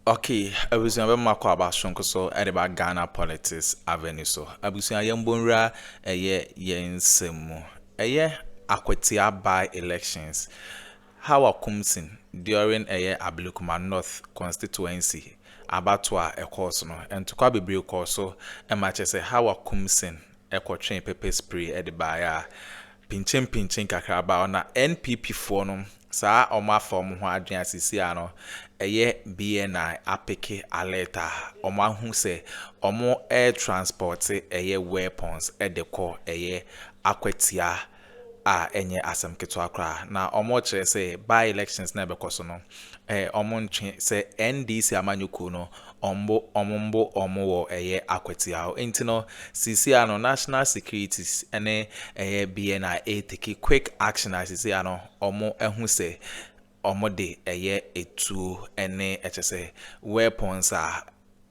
Okay, abusua bɛma akɔ aba soronko so de ba Ghana politics avenue so. Abusua yɛn bɔ nwura ɛyɛ yɛn nsɛm mu. Ɛyɛ Akwatia by elections. Hawa Kumsin during ɛyɛ Ablekuma North constituency abatoɔ a ɛkɔɔ so no, ntɔkwa bebree kɔɔ so ma kyerɛ sɛ Hawa Kumsin kɔtwee pepper spray de baeɛ a, pinkyenpinkyen kakra baa hɔ. Na NPP foɔ no, saa a wɔafa wɔn ho adwene a seesei ara no, ɛyɛ BNI apeke alert a wɔahu sɛ wɔretranspɔte ɛyɛ weapons de kɔ ɛyɛ akwatia a ɛnyɛ asɛm ketewa koraa na wɔkyerɛ sɛ by elections na ɛbɛkɔ so no ɛɛ wɔntwe sɛ NDC amanyɔkuo no wɔmbo wɔmbo wɔn wɔ ɛyɛ akwatia hɔ nti no sisi ano national securities ɛne ɛyɛ BNI ɛreteki quick action a sisi ano wɔn ɛho sɛ wɔde yɛ atuo ne kyerɛ sɛ weapons a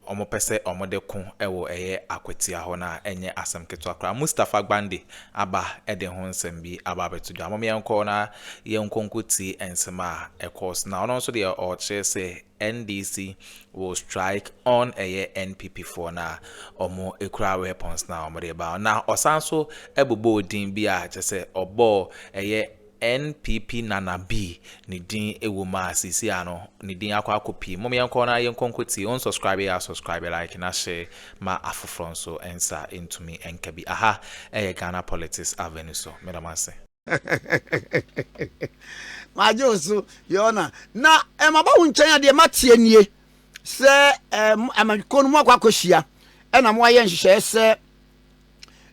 wɔpɛ sɛ wɔde ko wɔ ɛyɛ akwatia hɔ no a ɛnyɛ asɛm ketewa koraa. Mustapha Gbande aba de ho nsɛm bi aba abɛto dwa. Mom yɛnkɔ na yɛnkɔ nkɔtie nsɛm a ɛkɔɔ so. Na ɔno nso deɛ ɔkyerɛ sɛ NDC will strike on ɛyɛ NPP foɔ no a wɔkura weapons no a wɔde ba. Na ɔsan so bobɔɔ din bi a kyerɛ sɛ ɔbɔɔ ɛyɛ NPP Nana bi ne din wɔ mu a seesei a no ne din akɔ akɔpue. Mom yɛnkɔ na yɛnkɔ nkɔtie. Wo nsɔskraibe yɛ a sɔskraibe, like na hye ma afoforɔ nso nsa ntumi nka bi. Aha yɛ Ghana Politics Avenue so. Meda mo ase. Magye wo so Your Honor. Na maba wo nkyɛn a deɛ mateɛ nie sɛ amanyɔkuo no moakɔ akɔhyia na moayɛ nhyehyɛeɛ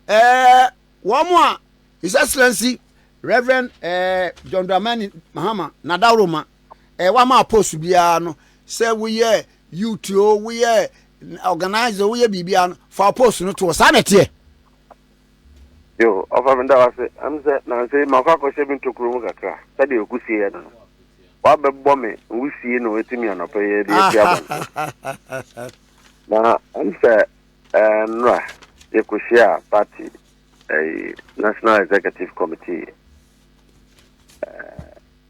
sɛ wɔn a His Excellency Rev. Eh, John Dramani Mahama Nadaworoma eh, wama apost biara no sɛ woyɛ youth o woyɛ organizer woyɛ biribiara no fa apost no toɔ saa na ɛteɛ yo ɔfa me da wase ɛm sɛ nanse makɔ akɔhyɛ me ntokuro mu kakra sɛdeɛ ɔkusie yɛ no no wabɛbɔ me nwisie na ɔtumi anɔpɛ yɛ de atia bɔnte na ɛm sɛ Ɛnora, yɛkɔhyiaa party ɛyi National Executive Committee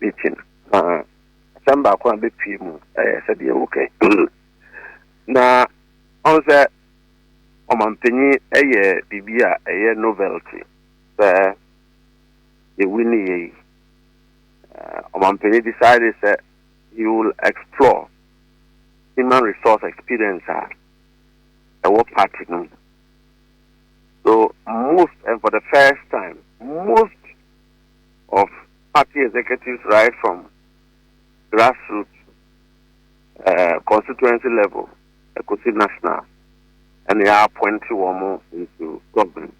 meeting na asɛm baako a bɛpie mu ɛyɛ sɛdeɛ wokɛ na ɔn sɛ ɔmampanyin ɛyɛ biribi a ɛyɛ novelty sɛ yɛwi ne yɛ yi ɔmampanyin decide sɛ he will explore human resource experience a ɛwɔ party no mu. So most and for the first time most of party executives right from grassroots uh, constituency level ɛkɔsi national ɛna yɛ appoint wɔn into government.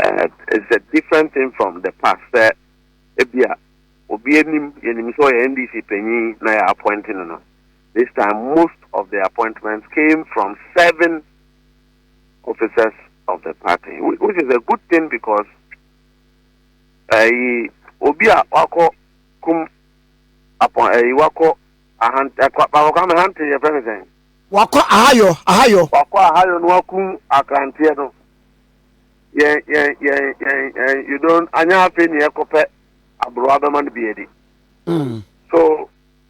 Uh, it's a different thing from the past sɛ ebi a obi anim yɛnim sɛ ɔyɛ ndc panyin na yɛ appoint no no. This time most of the appointments came from serving officers of the party which is a good thing because ɛyi obi a wakɔ kum apɔ ɛyi wakɔ ahante akɔ akɔ ahante yɛ fɛn ne sɛn. wakɔ ahayɔ ahayɔ. wakɔ ahayɔ no wakum akranteɛ no yɛn yɛn yɛn yɛn yɛn you don anya afei ni ɛkɔpɛ aburowa bɛma no bi adi. Hmm. so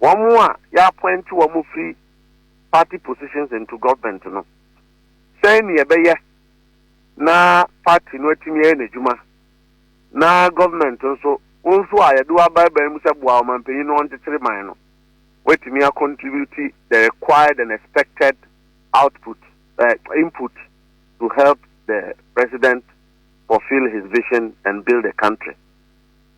Wɔn a yɛ appoint wɔn firi party positions into government no, sɛn ne yɛbɛyɛ na party no atumi ayɛ n'adwuma na government nso, wɔn nso a yɛde wɔn abaebae mu sɛ boa ɔmanpanyin na ɔnkyekyere man no, wɔatumi a contribute the required and expected output, uh, input to help the president fulfill his vision and build the country.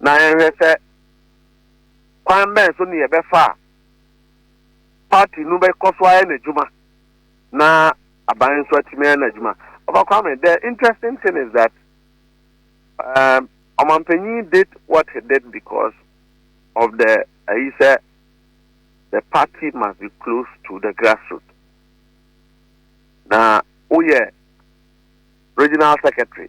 na yɛnhwɛ sɛ kwan bɛn so ne yɛbɛfa a party no bɛkɔ so ayɛ n'adwuma na aban nso atumi ayɛ n'adwuma ɔfa kwame the interesting thing is that um, ɔmampanyin did what he did because of the ayi uh, sɛ the party must be close to the grassroots na woyɛ regional secretary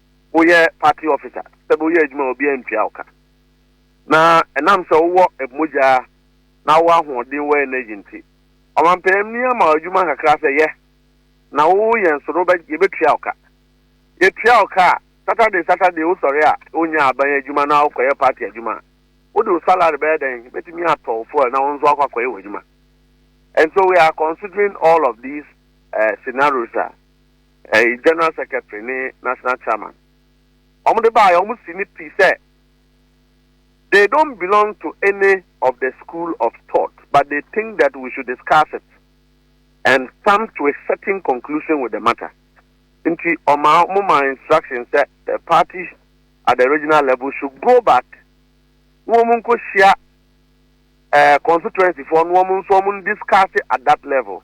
woyɛ party officer sɛ bɛ woyɛ adwuma a obiara ntua wo ka. Na ɛnam sɛ wowɔ mmogya na wowɔ ahoɔden wɔ energy nti, ɔmampaninni ama wo adwuma kakra sɛ yɛ na wo yɛn so no wobɛ yɛbɛtua wo ka. Yɛtua wo ka a, Saturday Saturday wosɔre a wonyaa aban adwuma na wokɔyɛ party adwuma a, wode wo salary bɛyɛ dɛn? Bɛtumi atɔ wo fuel na wo nso akɔ akɔyɛ w'adwuma. And so we are considering all of these scenarios a. ɛɛ general secretary ne national chairman wɔn de baa yɛ wɔn si ne pi sɛ they don't belong to any of the school of thought but they think that we should discuss it and come to a certain conclusion with the matter nti ɔma wɔn ma instruction sɛ the party at the regional level should go back na wɔn nkɔ hyia ɛɛ eh, constituency foɔ na wɔn nso wɔn discuss at that level.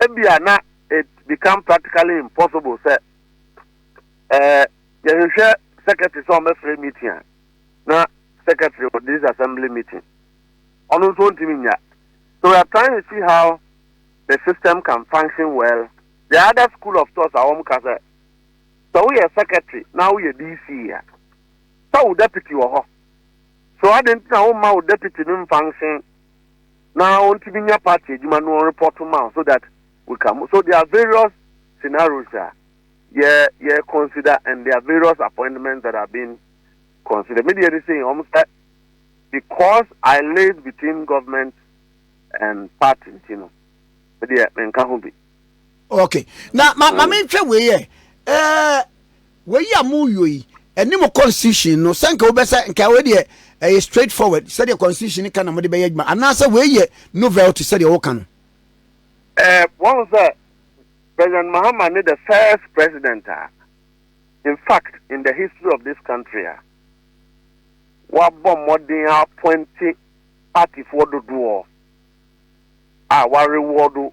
ebia na it become practically impossible sɛ eh, yɛhwehwɛ secretary sɛ ɔmɛfrɛ meeting a na secretary of this assembly meeting ɔno nso ɔntumi nya so we are trying to see how the system can function well the other school of thought a wɔn ka sɛ sɛ woyɛ secretary na woyɛ dc a sɛ wo deputy wɔ hɔ so adi nti na wɔn ma wo deputy no function na ɔntumi nya party adwuma no ɔrepɔto ma wo so that we can move. So there are various scenarios a yɛ yɛ consider and there are various appointments that are being considered. Media is saying almost that because I live between government and party, you know, media menka ho bi. ok na ma ma menhwɛ wei yɛ ɛɛ wei a moyɔ yi ɛne mo constitution no sɛ nka wobɛsɛ nka wei deɛ ɛyɛ straight forward sɛdeɛ constitution no ka na mode bɛyɛ adwuma anaasɛ wei yɛ novelty sɛdeɛ woka no ɛɛ wɔn sɛ president mahama ne the first president a in fact in the history of this country a wabɔ mmɔden apɔnte partyfoɔ dodoɔ a warewɔdo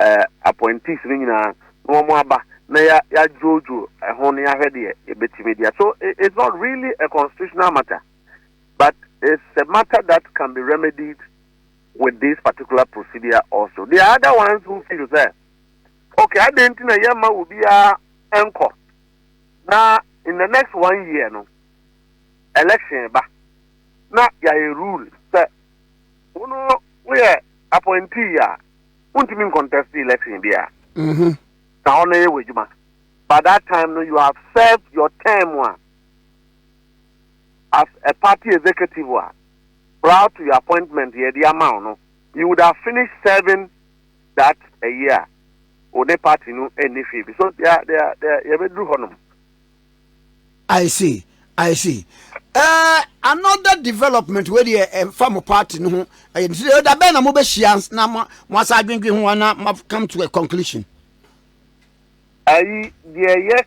eh, appointees no nyinaa na wɔn aba na ya yɛadwoodwo ɛho na yɛahwɛ deɛ yɛbɛtumi deɛ so it's not really a constitutional matter but it's a matter that can be remedied with this particular procedure also there are other ones who feel sɛ okay adɛn nti na yɛma obiara nkɔ na in the next one year no election ba na yɛayɛ rule sɛ wono woyɛ appointee a wontumi ncontest election bi a mm-hmm. na hɔ no yɛ wɔ adwuma by that time no you have served your term a as a party executive a prior to your appointment yɛde ama wo no you would have finished serving that a year wo ne party no ɛnni hwee bi so yɛbɛduru hɔ nom I see, I see. Uh, another development wei deɛ ɛmfa eh, mo party no ho ɛyɛ nti deɛ ɔda bɛn na mobɛhyia na mo asa adwendwen ho ana ma come to a conclusion. ayi deɛ yɛ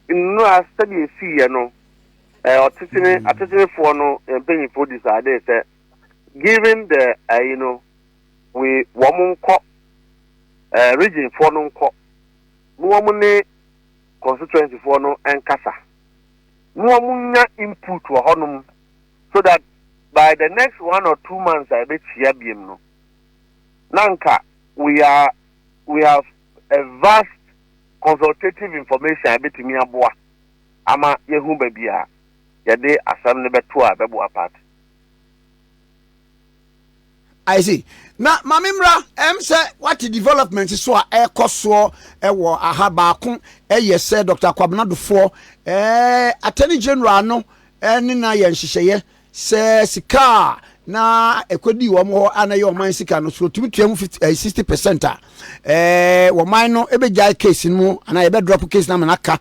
nnura sɛdeɛ ɛsiiɛ no eh, ɔtetene hmm. atetenefoɔ no eh, mpanyinfoɔ decide sɛ given the ayi no we wɔn nkɔ regionfoɔ no nkɔ na wɔn ne constituency foɔ no nkasa na wɔn nya input wɔ hɔ nom so that by the next one or two months a yɛbɛkyia biem no na nka we are we have a vast consultative information a yɛbɛtumi aboa ama yɛhu baabi a yɛde asɛm no bɛto a ɛbɛboa party. I see. Na maame mmra ɛm sɛ wate development so a ɛkɔ soɔ ɛwɔ aha baako ɛyɛ sɛ Dr. Kwabena Dofoɔ ɛɛ Attorney General no ɛne na yɛ nhyehyɛeɛ sɛ sika a na ɛkɔdi wɔn hɔ a na ɛyɛ ɔman sika no so wɔtumi tua mu eh, sixty percent a ɛɛ wɔman no ɛbɛgyae case no mu anaa yɛbɛdrɔp case no ama no aka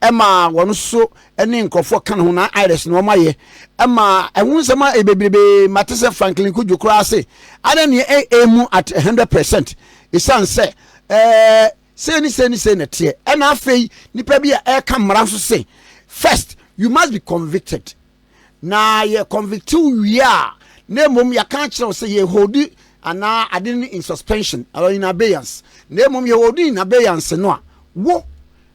ɛma wɔn so ne nkurɔfoɔ ka ne ho na iris na wɔn ayɛ ɛma ɛho nsɛm a bebrebe mate sɛ franklin kudwo koraa se ana neɛ ɛmu at 100 percent ɛsiane sɛ ɛɛ sei ne sei ne sei na teɛ ɛna afei nipa bi a ɛka mmara nso se first you must be convicted na yɛ convict wie a na mmom yɛka akyerɛ wo sɛ yɛhodi anaa ade no in suspension or in abeyance na mmom yɛhodi in abeyance no a wo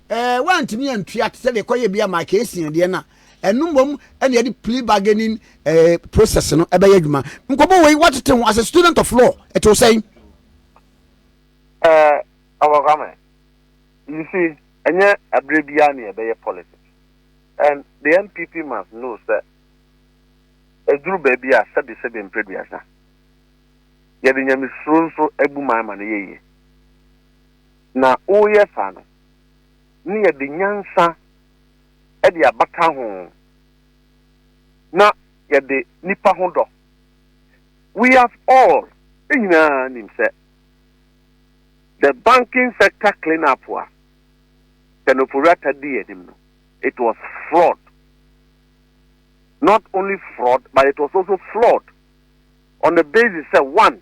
Ɛɛ, woantumi antua te sɛ deɛ kɔyɛ bi a Mike Essien deɛ no a, ɛno mmom ɛna yɛde plea bargaining ɛɛ eh, process no ɛbɛyɛ adwuma. Nkɔmɔ wei watete ho as a student of law ɛte wo sɛn? Ɛɛ, ɔkɔkame, you see, ɛnyɛ abere biara ne yɛbɛyɛ politics and the NPP must know sɛ ɛduru baabi a sɛbesɛbe mprɛduasa yɛde nyamesuro nso abu man ma no yɛ yie. Na woreyɛ saa no, na yɛde nyansa de abata ho, na yɛde nnipa ho dɔ. We have all, yɛn nyinaa nim sɛ, the banking sector clean up a Ken Ofori-Atta dii anim no, it was fraud. Not only fraud, but it was also flawed on the basis sɛ, one,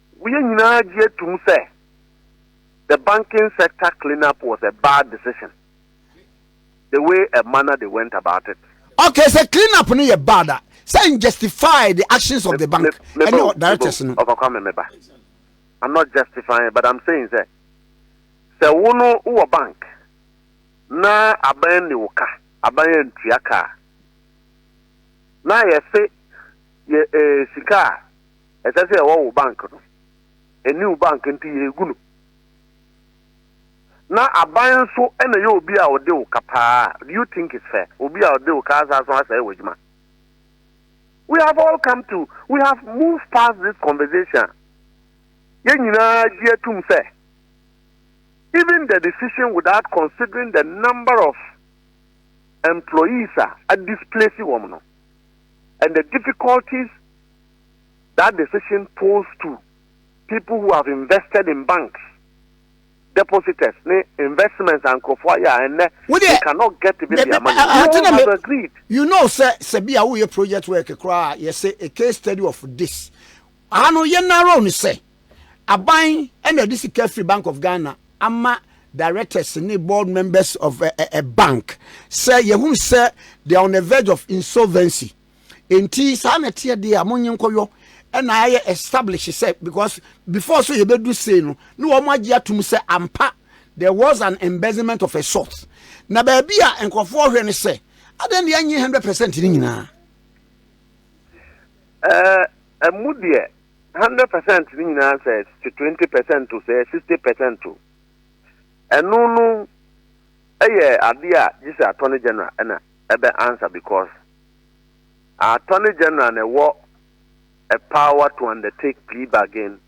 Wo yɛn nyinaa gye tom sɛ the banking sector clean up was a bad decision the way a manner they went about it. Okay sɛ clean up no yɛ bad a sɛ n justify the actions of the bank ɛne directors no. Ɔfa Kwame me ba I'm not justifying but I'm saying sɛ sɛ wo no wo wɔ bank na aban ne wo ka aban yɛ ntua ka a na yɛ se yɛ eh, sika a ɛsɛ sɛ ɛwɔ wo bank no ɛne wo bank nti yɛgu no na aban nso ɛna yɛ obi a ɔde wo ka paa do you think it's fair obi a ɔde wo ka asa so asɛe wɔ adwuma we have all come to we have moved past this conversation yɛn nyinaa gye atum sɛ even the decision without considering the number of employees are displacing women and the difficulties That decision tolls to people who have invested in banks, depositors ne investments a nkurɔfoɔ ayɛ a ɛnnɛ they cannot get even their money. You all have agreed. You know sɛ sɛ bi a woyɛ project work koraa yɛsɛ a case study of this. Aha no yɛ narrow no sɛ aban ɛna ɛde sika firi Bank of Ghana ama directors ne board members of a, a, a bank sɛ yɛhunu sɛ they are on the verge of insolvency Enti saa na ɛteɛ deɛ a monye nkɔyɔ ɛna ayɛ establish sɛ because before so yɛbɛdu sei no na wɔn agye atum sɛ ampa there was an embezzlement of a sort na baabi a nkurɔfoɔ hwɛ no sɛ adɛn deɛ ɛnyɛ hundred percent no nyinaa ɛmu eh, deɛ hundred percent no nyinaa sɛ twenty percent o sɛ sixty percent o ɛno no ɛyɛ adeɛ a gye sɛ attorney general ɛna ɛbɛ answer because Attorney General na ɛwɔ power to undertake plea bargain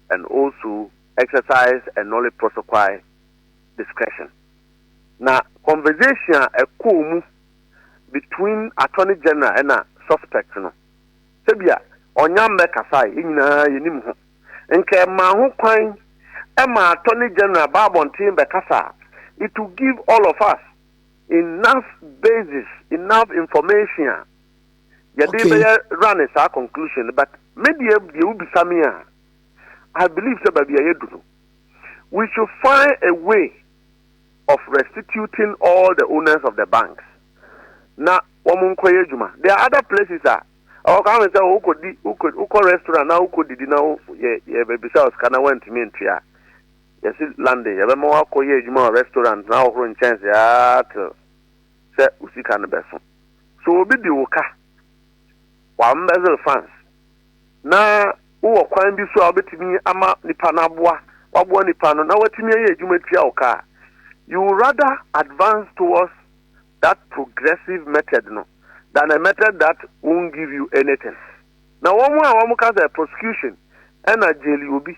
and also exercise a nolle prosequi discretion. Na conversation a ɛkɔɔ mu between Attorney General ɛna suspect no, sɛbia ɔnya mmɛkasae, yɛn nyinaa yɛnim ho. Nka ɛmaa ho kwan ma Attorney General baa abɔnten bɛkasa a, it will give all of us Enough basis, enough information a yɛde Okay. bɛyɛ running saa conclusion no but me deɛ deɛ wobisa me a I believe sɛ baabi a yɛadu no we should find a way of restituting all the owners of the banks na wɔn nkɔyɛ adwuma there are other places a ɔwɔ ka ahwɛ sɛ wokɔdi wokɔ wokɔ restaurant na wokɔdidi na wo yɛ yɛbɛbisa wo sika na woantumi ntua a Yɛse Landy yɛbɛma wakɔ yɛ adwuma wɔ restaurant na ahohoro nkyɛnse aa till sɛ wo sika no bɛso. So obi di wo ka? Wa embezzle funds? Na wo wɔ kwan bi so a wobɛtumi ama nipa no aboa waboa nipa no na watumi ayɛ adwuma atua wo ka a, you will rather advance towards that progressive method no than a method that won't give you anything. Na wɔn a wɔka sɛ prosecution ɛna jaili obi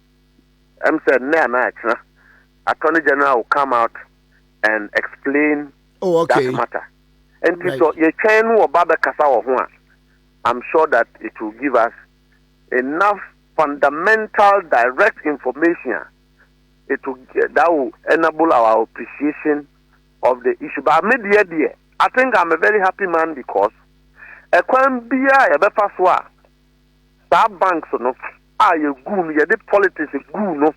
ɛm sɛ nnɛ anaa akyena, Attorney General will come out and explain oh, okay. that matter. Nti right. so yɛtwɛn no ɔba bɛkasa wɔ ho a, I'm sure that it will give us enough fundamental direct information. It will, that will enable our appreciation of the issue. But me dear dear, I think I'm a very happy man because a kwan bia yɛbɛfa so a saa banks no a yɛguu no yɛde politics guu no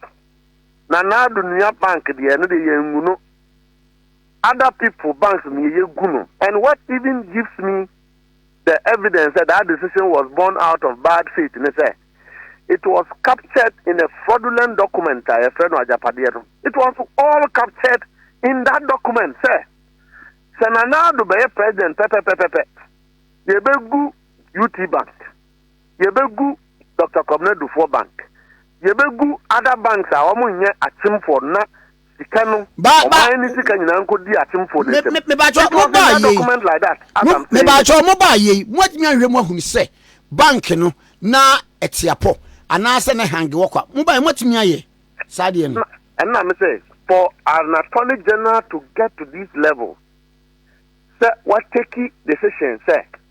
na naado nua bank deɛ ɛno deɛ yɛngu no other people banks no yɛgu no and what even gives me the evidence that that decision was born out of bad faith ne sɛ it was captured in a fraudulent document a yɛfrɛ no agyapadeɛ no it was all captured in that document sɛ sɛ nanaado bɛyɛ president pɛpɛpɛpɛpɛ yɛbɛgu UT Bank, yɛbɛgu Doctor Kwabena Dufour Bank, yɛbɛgu other banks a wɔn nyɛ akyemfoɔ no na sika no, ba, ba, ɔman ne sika nyinaa nkɔdi akyemfoɔ no nsam. Mebakyɛ mo baa yei, mebakyɛ mo baa yei, mo atumi ahwɛ mo ahunu sɛ bank no na ɛteapɔ anaasɛ ne hange wɔ kwa, mo baa mo atumi ayɛ saa deɛ no. Ɛnna me sɛ for an attorney general to get to this level sɛ wateki decision sɛ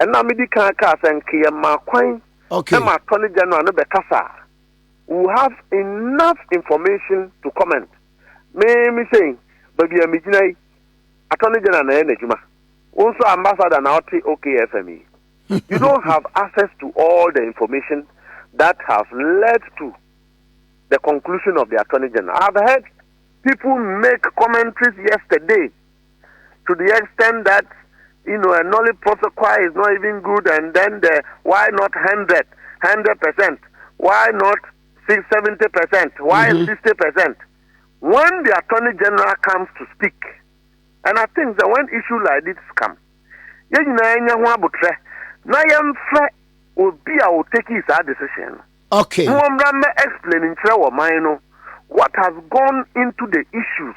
Ɛna medi kan kaa sɛ nka yɛmaa kwan ma Attorney General no bɛkasa a, we will have enough information to comment. Me me sɛ yi, baabi a megyina yi, Attorney General na ɛyɛ n'adwuma. Wo nso Ambassador na ɔte OKFM yi. You don't have access to all the information that have led to the conclusion of the Attorney General. I have heard people make commentaries yesterday to the extent that you know a knowledge profit choir is not even good and then the why not 100 100% why not 70% why mm -hmm. 60% when the attorney general comes to speak and i think that when issue like this come yɛn nyinaa nya ho abotrɛ na yɛmfrɛ obi a ɔteki saa decision no okay. mo mmra mɛ explain nkyerɛ wɔ man no what has gone into the issues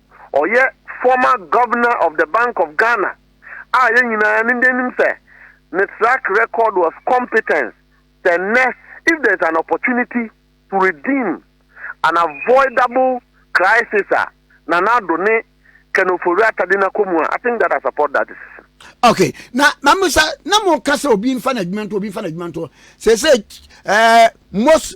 ɔyɛ former Governor of the Bank of Ghana a yɛn nyinaa yɛn anim sɛ ne track record was competence sɛ nnɛ if there is an opportunity to redeem an avoidable crisis a Nana Addo ne Ken Ofori Atta de no akɔ mu a I think that I support that decision. Okay, na mamusa na mo kasa obi nfa na adwuma nto obi nfa na adwuma nto sɛ sɛ ɛɛ most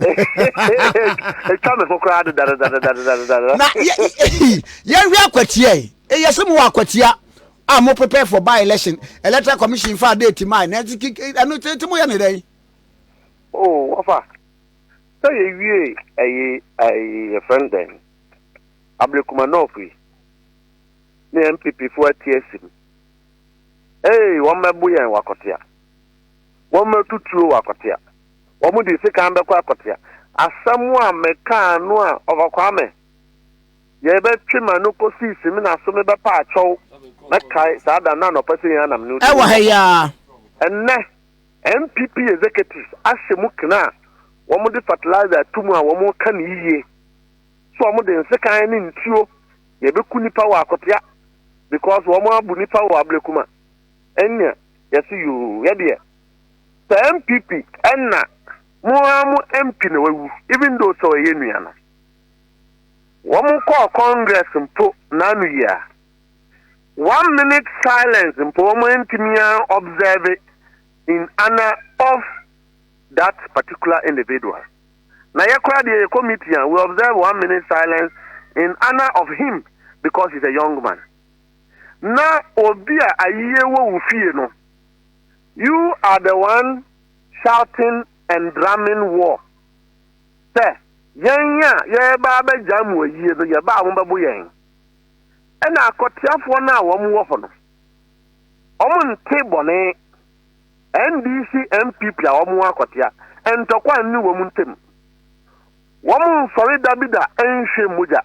ɛtwa me ho koraa dedadedadedadedada na yɛhwɛ akwatia yi ɛyɛ sɛ mowɔ akwatia a mo prepare for by election electoral commission fa date ma na ɛno tete moyɛ ne dɛn oh wafa sɛ yɛwie ɛyi ɛyi yɛfrɛ no dɛn ablekuma north yi ne mpp foɔ ati asim ee wɔmmɛbo yɛn wakɔtea wɔmmɛto tuo wɔ Akɔtea. Wɔn de sekan bɛkɔ Akɔtea. Asɛm a mekaa no a Ɔfa Kwame, yɛbɛtwe ma no kɔsi Simina so mebɛpa akyɛw mɛkae saa da no anɔpa sɛ yɛn ara na me ne wo te Ɛwɔ ha yi ara. Ɛnnɛ, NPP executives ahyɛ mu kena a wɔde fertilizer reto mu a wɔka no yiye sɛ wɔde nsekan ne ntuo na ɛbɛku nnipa wɔ Akɔtea because wɔabu nnipa wɔ Ablekuma. Ɛnneɛ yɛse yoo yɛdeɛ saa NPP ɛna mo ara mo MP na wawu even though sɛ ɔyɛ nua no wɔn kɔɔ congress mpo n'ano yia one minute silence mpo wɔn antumi an observe in honor of that particular individual na yɛ koraa deɛ yɛ committee a we observe one minute silence in honor of him because he's a young man. na obi a ayiyɛ wɔ wo fie no, you are the one shouting and drumming war sɛ yɛn a yɛreba abɛgya mo ayie no yɛba a wɔbɛbo yɛn. Ɛna akɔteafoɔ no a wɔn wɔ hɔ no, wɔn nte bɔne. NDC NPP a wɔn akɔtea, ntɔkwa nni wɔn ntam. Wɔn nsɔre da bi da nhwɛ mogya.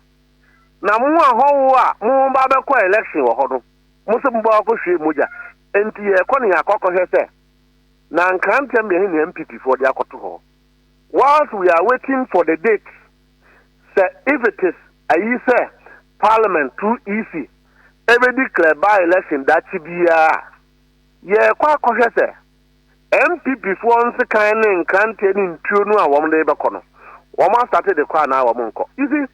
Na mo ahɔho a mo ba abɛkɔ election wɔ hɔ no, mo se mo ba wakɔhwie mogya. Enti yɛrekɔ no yɛakɔ akɔhwɛ sɛ na Nkrantɛ mmea he ne NPP foɔ de akɔto hɔ. Whilst we are waiting for the date, sɛ if it is ayi sɛ Parliament through EC ɛbɛ declare by election dakye biaa a, yɛrekɔ akɔhwɛ sɛ NPP foɔ nsekan ne Nkrantɛ ne ntuo no a wɔn de rebɛkɔ no, wɔn astate de kɔ anaa wɔn nkɔ. You see?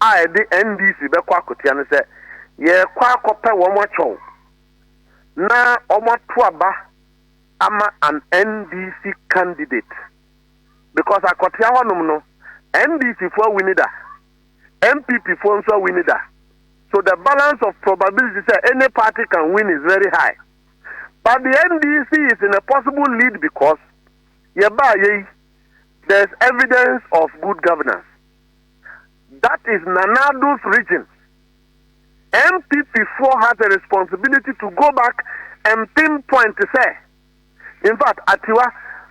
a ɛde NDC bɛkɔ akotia no sɛ yɛrekɔ akɔpɛ wɔn akyɔw na wɔn ato aba ama an NDC candidate because akɔtia hɔnom no NDC fo awini da, NPP fo nso awini da. So the balance of probability sɛ any party can win is very high. But the NDC is in a possible lead because yɛbaa yei there's evidence of good governance. that is Nana Addo's region, NPP foɔ has a responsibility to go back and pin point sɛ, in fact Atiwa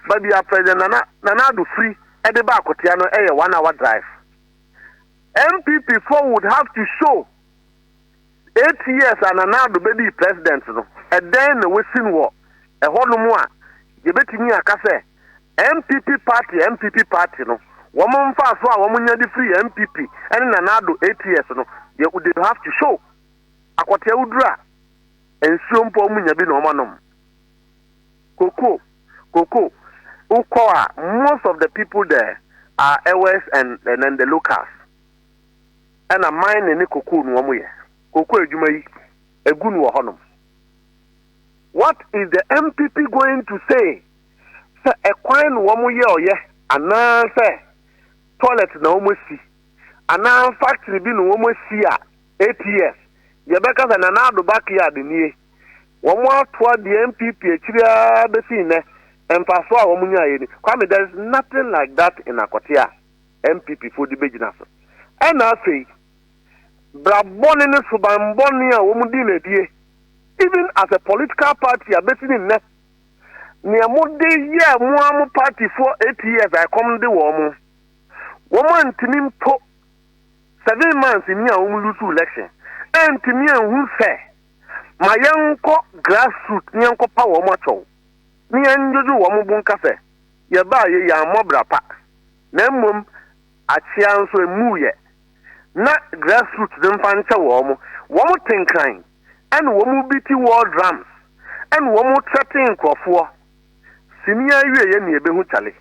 baabi a President Nana Nana Addo firi ɛde ba Akotea no ɛyɛ one hour drive. NPP foɔ would have to show Eight years a Nana Addo bɛdii President no, ɛdɛn na wasin wɔ ɛhɔnom a yɛbɛtumi aka sɛ NPP party NPP party no, wɔn mfasoɔ a wɔnya de firi NPP ne Nana Addo eight years no, deɛ they have to show. Akɔtea woduru a, nsuo mpo wɔn nya bi na wɔn anom. Koko, koko, wokɔ a, most of the people there are Ewes and, and, and the locals. Ɛna mine ne cocoa no wɔn yɛ cocoa adwuma yi egu no wɔ hɔ nom. What is the MPP going to say sɛ ɛkwan na wɔn yɛ ɔyɛ anaa sɛ toilet na wɔn asi anaa factory bi na wɔn asi a eight years yɛbɛka sɛ Nana Addo backyard nie wɔn atoa deɛ MPP akyiri ara bɛsi nnɛ mfasoɔ a wɔn nyaeɛ ni Kwame there is nothing like that in Akɔtea. NPP foɔ de bɛgyina so. Ɛna afei, bra bɔne ne suban bɔne a wɔn dii no adie, even as a political party a bɛsi ne nnɛ, neɛ mo de yɛɛ mo ara mo party foɔ eight years a ɛkɔm de wɔn mo, wɔn antumi mpo seven months ni a wɔn lose election, antumi anhu sɛ, ma yɛnkɔ grassroot ne yɛnkɔ pa wɔn akyɛw, ne yɛndwodwo wɔn bo nka sɛ, yɛbaa yɛ yɛammɔ bra pa. Na mmom akyea nso emmuiɛ, na grassroots no mfa nkyɛ wɔn, wɔn te nkran, ɛna wɔn beati war drums, ɛna wɔn threaten nkorɔfoɔ, sini awieɛ na yɛbɛhu kyale,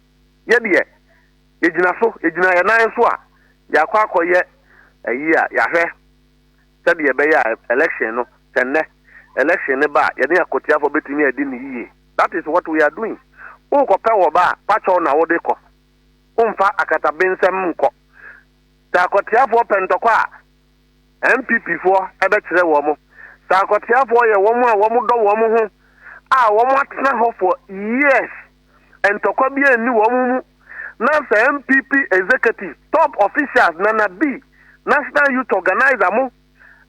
yɛ deɛ yɛgyina so, yɛgyina yɛn nan so a, yɛakɔ akɔyɛ ayi a yɛahwɛ. sɛdeɛ ɛbɛyɛ a election no sɛ nnɛ election no ba a yɛne akotiafoɔ bɛtumi adi no yie that is what we are doing wokɔpɛ wɔ ba a pakyɛw na wode kɔ womfa akatabensɛm nkɔ sɛ akotiafoɔ pɛ ntɔkɔ a NPP foɔ ɛbɛkyerɛ wɔn mo sɛ akotiafoɔ yɛ wɔn a wɔn dɔ wɔn ho a wɔn atena hɔ for years ntɔkwa biara nni wɔn mu na sɛ NPP executive, top officials, Nana B, National Youth Organiser mo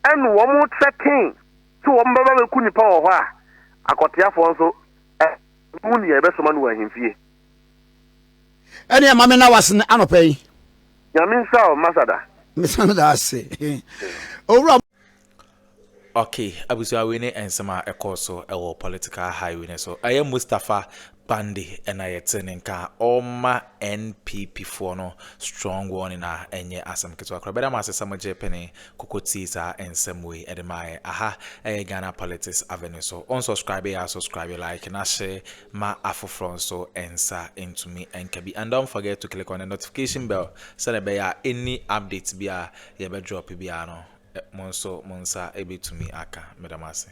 ɛne wɔn threaten sɛ wɔn bɛba bɛku nnipa wɔ hɔ a, akɔteafoɔ nso ɛmu nea ɛbɛsoma no wɔ ahemfie. Ɛne ɛma me na wasene anɔpa yi. Nyame nhyira wo Masada. Mesane da ase. Owura Ok abusua wei ne nsɛm a ɛkɔɔ so wɔ political highway no so. Ɛyɛ Mustapha Bande na yɛte ne nka a ɔma NPP foɔ no strong warning a ɛnyɛ asɛm ketewa koraa. Bɛda mo ase sɛ mogye pene koko tie saa nsɛm wei ɛde maa yɛ. Aha ɛyɛ Ghana Politics Avenue so. Wo nsubscribe a subscribe, like na hyɛ ma afoforɔ nso nsa ntumi nka bi. And don't forget to click on the notification bell sɛdeɛ ɛbɛyɛ a any updates biara yɛbɛ drop biara no mo nso mo nsa bɛtumi aka. Meda mo ase.